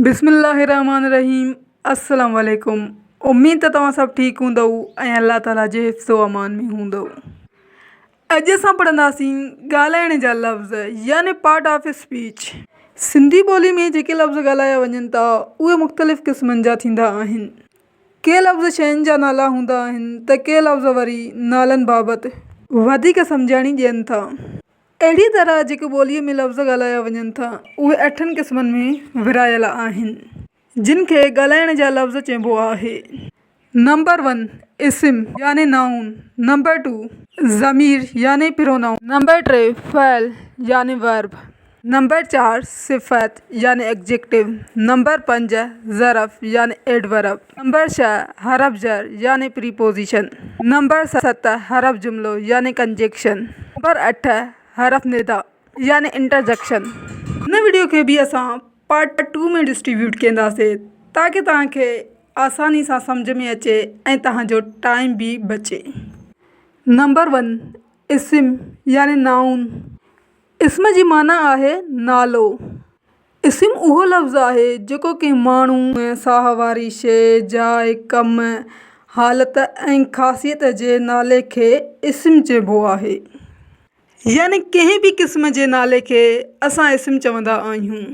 بسم الله الرحمٰن الرحيم السلام عليڪم اميد ته توهان سڀ ٺيڪ هوندؤ ۽ الله تعالي جي حفظ و امان ۾ هوندؤ اڄ اسان پڙهنداسين ڳالهائڻ جا لفظ يعني پارٽ آف اسپيچ سنڌي ٻولي ۾ جيڪي لفظ ڳالهايا وڃن ٿا اهي مختلف قسمن جا ٿيندا آهن ڪي لفظ شين جا نالا هوندا آهن ته ڪي لفظ وري نالن بابت وڌيڪ سمجهاڻي ڏين ٿا. اهڙيء طرح جيڪي ٻوليء ۾ لفظ ڳالهايا وڃن ٿا، اهي اٺن قسمن ۾ ورهايل آهن، جن کي ڳالهائڻ جا لفظ چئبو آهي. نمبر ون، اسم يعني نائون، نمبر ٽو، ضمير يعني پرونائون، نمبر ٽي، فعل يعني ورب، نمبر چار، صفت يعني ايگزيڪٽو، نمبر پنج، ظرف يعني ايڊورب. نمبر ڇهه، حرف جر يعني پريپوزيشن. نمبر ست، حرف جملو يعني ڪنجيڪشن. نمبر اٺ، حرف ندا يعني انٽرجڪشن. هن وڊيو کي به اسان پارٽ ٽو ۾ ڊسٽريبيوٽ ڪينداسي تاڪه توهان کي آساني سان سمجهه ۾ اچي ۽ توهان جو ٽائيم به بچي. نمبر ون، اسم يعني نائون. اسم جي معنيٰ آهي نالو. اسم اهو لفظ آهي جيڪو ڪنهن ماڻهو، ساهه واري شيء، جاء، ڪم، حالت ۽ خاصيت جي نالي کي اسم چئبو آهي. يعني ڪنهن به قسم جي نالي کي اسان اسم چوندا آهيون.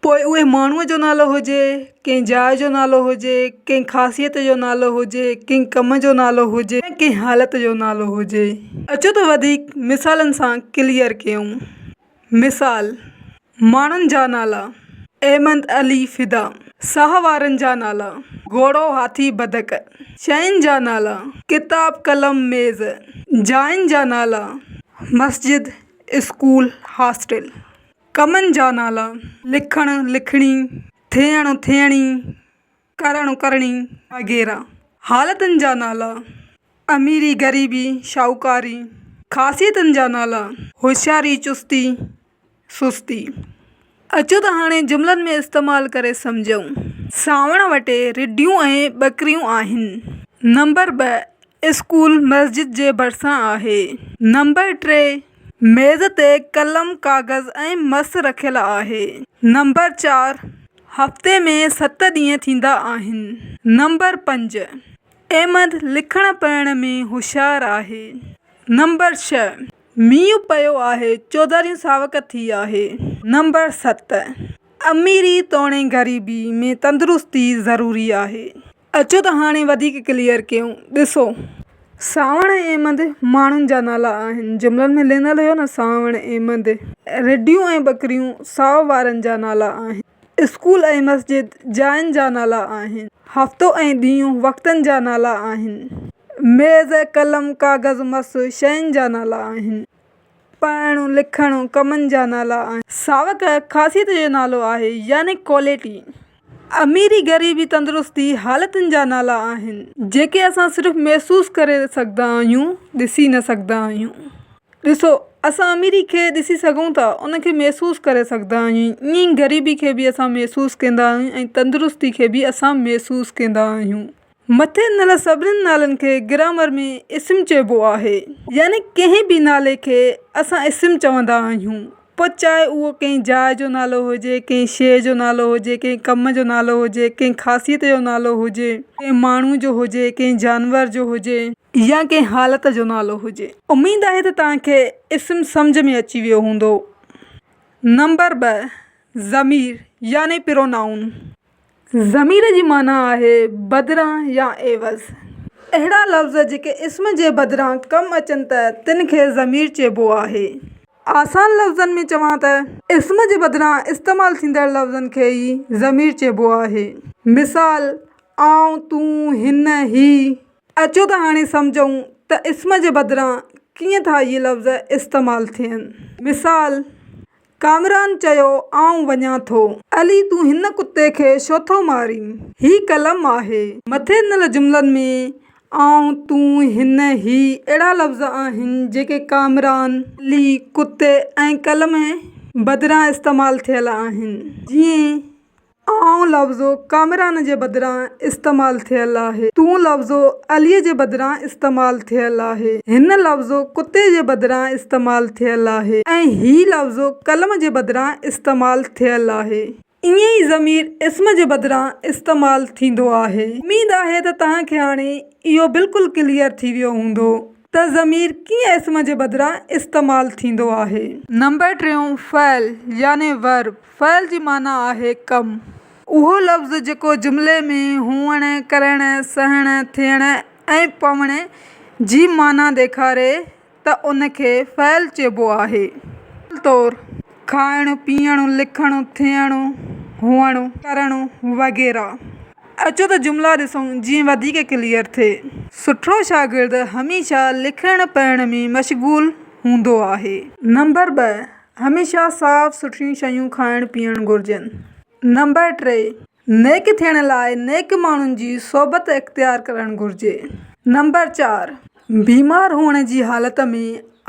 پوء اهي ماڻهوء جو نالو هجي، ڪنهن جاء جو نالو هجي، ڪنهن خاصيت جو نالو هجي، ڪنهن ڪم جو نالو هجي يا ڪنهن حالت جو نالو هجي. اچو ته وڌيڪ مثالن سان ڪليئر ڪيون. مثال، ماڻهن جا نالا، احمد علي فدا، ساهه وارن جا نالا، گهوڙو هاٿي بدڪ، شين جا نالا، ڪتاب قلم ميز، جاين جا نالا، مسجد اسڪول هاسٽل، ڪمن جا نالا، لکڻ لکڻي، ٿيڻ ٿيڻي. ڪرڻ ڪرڻي وغيره حالتن جا نالا، اميري غريبي شاهوڪاري خاصيتن جا نالا، هوشياري چستي سستي. اچو ته هاڻي جملن ۾ استعمال ڪري سمجهون. سانوڻ وٽي رڍيون ۽ ٻڪريون آهن. نمبر ٻه، اسڪول مسجد جي ڀرسان آهي. نمبر ٽي، ميز تي قلم، ڪاغذ ۽ مس رکيل آهي. نمبر چار، هفتي ۾ ست ڏينهن ٿيندا آهن. نمبر پنج، احمد لکڻ پڙهڻ ۾ هوشيار آهي. نمبر ڇهه، مينهن پيو آهي، چوڌاريون ساوڪ ٿي آهي. نمبر ست، اميري توڻي غريبي ۾ تندرستي ضروري آهي. اچو ته هاڻي وڌيڪ ڪليئر ڪيون. ڏسو. سانوڻ ۽ ايمند ماڻهن جا نالا آهن. جملن ۾ لنل هيو نه سانوڻ ايمند. رڍيون ۽ ٻڪريون سائو وارن جا نالا آهن. اسڪول ۽ مسجد جاين جا نالا آهن. هفتو ۽ ڏينهن وقتن جا نالا آهن. ميز، قلم، ڪاغذ، مس شين جا نالا آهن. پڙهڻ، لکڻ، ڪمن جا نالا آهن. ساوڪ، خاصيت جو نالو آهي يعني ڪوالٽي. اميري، غريبي، تندرستي، حالتن جا نالا آهن. جيڪي اسان صرف محسوس ڪري سگهندا آهيون، ڏسي نه سگهندا آهيون. ڏسو، اسان اميري کي ڏسي سگهون ٿا، ان کي محسوس ڪري سگهندا آهيون، ائين ئي غريبي کي به اسان محسوس ڪندا آهيون ۽ تندرستي کي به اسان محسوس ڪندا آهيون. مٿي ڏنل سڀني نالن کي گرامر ۾ اسم چئبو آهي. يعني ڪنهن به نالي کي اسان اسم چوندا آهيون، پوء چاهي اهو ڪنهن جاء جو نالو هجي، ڪنهن شيء جو نالو هجي، ڪنهن ڪم جو نالو هجي، ڪنهن خاصيت جو نالو هجي، ڪنهن ماڻهو جو هجي، ڪنهن جانور جو هجي. يا ڪنهن حالت جو نالو هجي. اميد آهي ته توهان کي اسم سمجهه ۾ اچي ويو هوندو. نمبر ٻه، ضمير يعني پرونائون. ضمير جي معنيٰ آهي بدران يا عيوض. اهڙا لفظ جيڪي اسم جي بدران ڪم اچن ته تن کي ضمير چئبو آهي. آسان لفظن ۾ چوان ته اسم جي بدران استعمال ٿيندڙ لفظن کي ئي ضمير چئبو آهي. مثال، آئون، تون، هن، هي. اچو ته هاڻي سمجهون ته اسم جي بدران ڪيئن ٿا اهي لفظ استعمال ٿين. مثال، ڪامران چيو، آئون وڃان ٿو. علي تون هن ڪتي کي ڇو ٿو مارين؟ هي قلم آهي. مٿي ڏنل جملن ۾ آئون، تون، هن، هي اهڙا لفظ آهن جيڪي ڪامران، علي، ڪتي ۽ قلم بدران استعمال ٿيل آهن. جيئن. آئون لفظ ڪامران جي بدران استعمال ٿيل آهي. تون لفظ عليء جي بدران استعمال ٿيل آهي. هن لفظ ڪتي جي بدران استعمال ٿيل آهي ۽ هي لفظ قلم جي بدران استعمال ٿيل آهي. ائين ئي ضمير اسم جي بدران استعمال ٿيندو آهي. اميد آهي ته توهان کي هاڻي اهو بلڪل ڪليئر ٿي ويو هوندو. ته ضمير ڪيئن اسم جي بدران استعمال ٿيندو آهي؟ نمبر ٽيون، فعل يعني Verb، فعل جي معنيٰ آهي ڪم. اهو لفظ جيڪو جملي ۾ هئڻ، ڪرڻ، سهڻ، ٿيڻ ۽ پوڻ جي معنيٰ ڏيکاري ته ان کي فعل چئبو آهي. مثال طور، کائڻ، پيئڻ، لکڻ، ٿيڻ، هئڻ، ڪرڻ وغيره. اچو ته جملا ڏسون جيئن وڌيڪ ڪليئر ٿئي. سٺو شاگرد هميشه لکڻ پڙهڻ ۾ مشغول هوندو آهي. نمبر ٻه، هميشه صاف سٿريون شيون کائڻ پيئڻ گهرجن. نمبر ٽي، نيڪ ٿيڻ لاء نيڪ ماڻهن جي صحبت اختيار ڪرڻ گهرجي. نمبر چار، بيمار هئڻ جي حالت ۾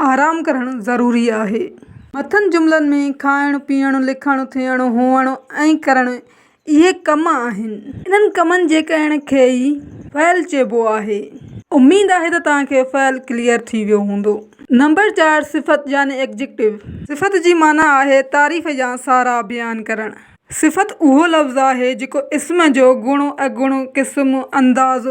آرام ڪرڻ ضروري آهي. مٿن جملن ۾ کائڻ، پيئڻ، لکڻ، ٿيڻ، هئڻ ۽ ڪرڻ اهي ڪم آهن. انهن ڪمن جي ڪرڻ کي ئي فعل چئبو آهي. اميد آهي ته توهان کي فعل ڪليئر ٿي ويو هوندو. نمبر چار صفت يعني Adjective صفت جي معنيٰ آهي تعريف يا ساراهه بيان ڪرڻ. صفت اهو لفظ آهي جيڪو اسم جو گڻ، اگڻ، قسم، انداز،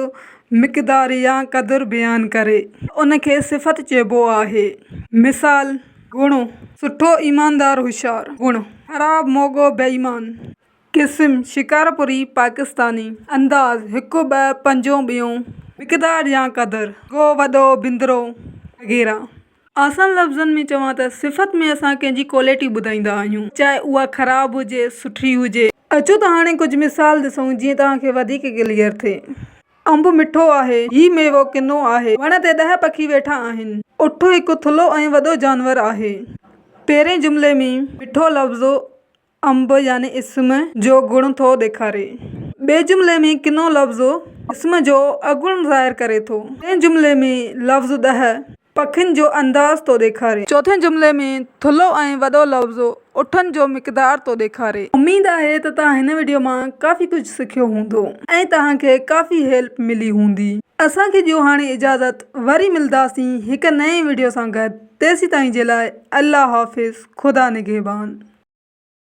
مقدار يا قدر بيان ڪري. ان کي صفت چئبو آهي. مثال. گهڻو سٺو ايماندار هوشيار. گهڻو خراب موڳو بي ايمان. قسم، شڪارپوري، پاڪستاني، انداز، هڪ ٻه پنجون ٻيون. مقدار يا قدر، گو، وڏو، بندرو وغيره. آسان لفظن ۾ چوان ته صفت ۾ اسان ڪنهن جي ڪوالٽي ٻڌائيندا آهيون چاهي اها خراب هجي سٺي هجي. اچو ته هاڻي ڪجهه مثال ڏسون جيئن توهان کي وڌيڪ ڪليئر ٿئي. انب مٺو آهي. هي ميوو ڪنو آهي. وڻ تي ڏهه پکي ويٺا آهن. اٺ هڪ ٿلهو ۽ وڏو جانور آهي. پهرئين جملي ۾، مٺو لفظ انب يعني اسم جو گڻ ٿو ڏيکاري. ٻئي جملي ۾ ڪنو لفظ اسم جو اگڻ ظاهر ڪري ٿو. ٽئين جملي ۾ لفظ ڏهه پکين جو انداز ٿو ڏيکاري. چوٿين جملي ۾ ٿلهو ۽ وڏو لفظ اٺن جو مقدار ٿو ڏيکاري. اميد آهي ته توهان هن وڊيو مان ڪافي ڪجهه سکيو هوندو ۽ توهان کي ڪافي هيلپ ملي هوندي. اسان کي ڏيو هاڻي اجازت وري ملداسين هڪ نئين وڊيو سان گڏ تيسيتائين جي لاء الله حافظ خدا نگهبان.